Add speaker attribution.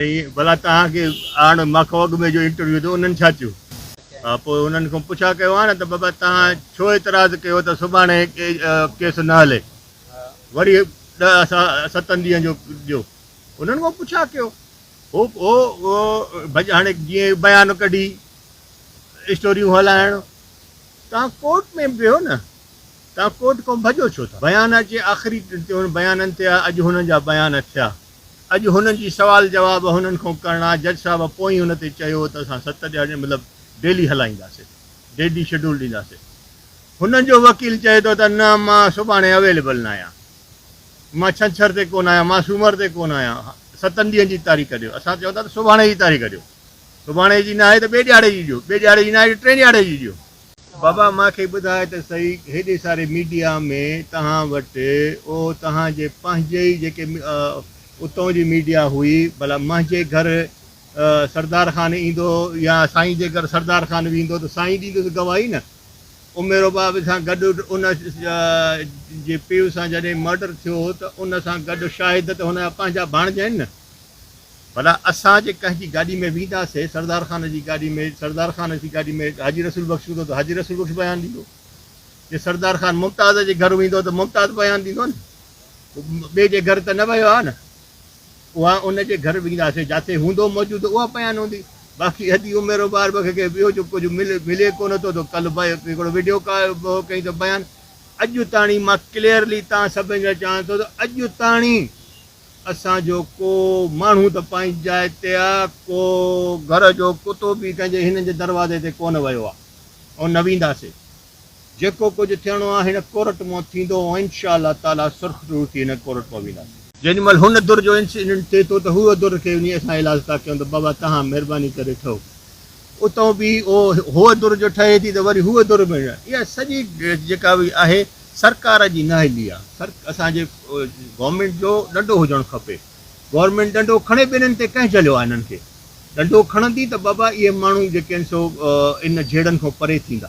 Speaker 1: چيائين، ڀلا توهان کي آڻ ماخوگ ۾ جو انٽرويو ٿيو انهن ڇا چيو؟ ها پوء انهن کان پڇا ڪيو ها نه ته بابا توهان ڇو اعتراض ڪيو ته سڀاڻي ڪيس نه هلي وري ڏهه ستن ڏينهن جو ڏيو انهن کان پڇا ڪيو هو هو ڀڄ هاڻي جيئن بيان ڪڍي اسٽوريون هلائڻ توهان ڪورٽ ۾ ويهو نه توهان ڪورٽ کان ڀڄو ڇو ٿا بيان اچي آخري بيانن تي اڄ هنن جا بيان ٿيا اڄ هنن جي سوال جواب هنن کون ڪرڻا جج صاحب پوئين ان تي چيو ته اسان ست ڏيهاڙي مطلب ڊيلي هلائينداسي ڊيڊي شيڊول ڏينداسي هنن جو وڪيل چئي ٿو ته نه مان سڀاڻي اويليبل نه آهيان مان ڇنڇر تي ڪون آهيان مان سومر تي ڪون آهيان ستن ڏينهن جي تاريخ ڏيو اسان چئون ٿا ته سڀاڻي جي تاريخ ڏيو سڀاڻي جي نه آهي ته ٻئي ڏيهاڙي جي ڏيو ٻئي ڏيهاڙي جي نه آهي ٽين ڏيهاڙي جي ڏيو. بابا مان کي ٻڌاء ته سهي هيڏي ساري ميڊيا ۾ تهان وٽ اهو تهان جي پنهنجي ئي جيڪي اتون جي ميڊيا هئي ڀلا منهنجي گهر سردار خان ايندو يا سائين جي گهر سردار خان ويندو ته سائين ڏيندس گواهي نه عميرو باب سان گڏ ان جي پيء سان جڏهن مرڊر ٿيو ته ان سان گڏ شاهد ته هن جا پنهنجا ڀاڻجا آهن نه ڀلا اسان جي ڪنهن جي گاڏي ۾ ويندا سي سردار خان جي گاڏي ۾ سردار خان جي گاڏي ۾ حاجي رسول بخش هوندو ته حاجي رسول بخش بيان ڏيندو جي سردار خان ممتاز جي گهر ويندو ته ممتاز بيان ڏيندو نه هو ٻئي جي گهر ته نه ويو آهي نه اها ان جي گهر ويندا سي جاتي هوندو موجود اها بيان هوندي باقي ادي عمر وبار بخ کي ٻيو جو ڪجهه ملي ملي ڪونه ٿو ته ڪل بي هڪڙو ويڊيو ڪا ڪئي ته بيان اڄ تاڻي مان ڪليئرلي تان سڀن جا چاهان ٿو ته اڄ تاڻي اسان جو ڪو ماڻهو ته پنهنجي جاء تي آ، ڪو گهر جو ڪتو به ڪنهن جي هنن جي دروازي تي ڪونه ويو آ ۽ نه وينداسي. جيڪو ڪجهه ٿيڻو آ هن ڪورٽ مئن ٿيندو ۽ انشاء الله تعاليٰ سرخ رڙ ٿي هن ڪورٽ مئن وينداسي. جيڏي مهل هن در جو انسيڊنٽ ٿئي ٿو ته هوء در کي وڃي اسان ايلاز ٿا ڪيون ته بابا توهان مهرباني ڪري ٺهو. اتو به هوء ڌر جو ٺهي ٿي ته وري هوء ڌر به نه. اها سڄي جيڪا به آهي سرڪار جي نااهلي آ. اسان جي گورنمينٽ جو ڏنڊو هجڻ کپي. گورنمينٽ ڏنڊو کڻي به انهن تي ڪنهن جهليو آ انهن کي. ڏنڊو کڻندي ته بابا اهي ماڻهو جيڪي آهن سو ان جهيڙن کان پري ٿيندا.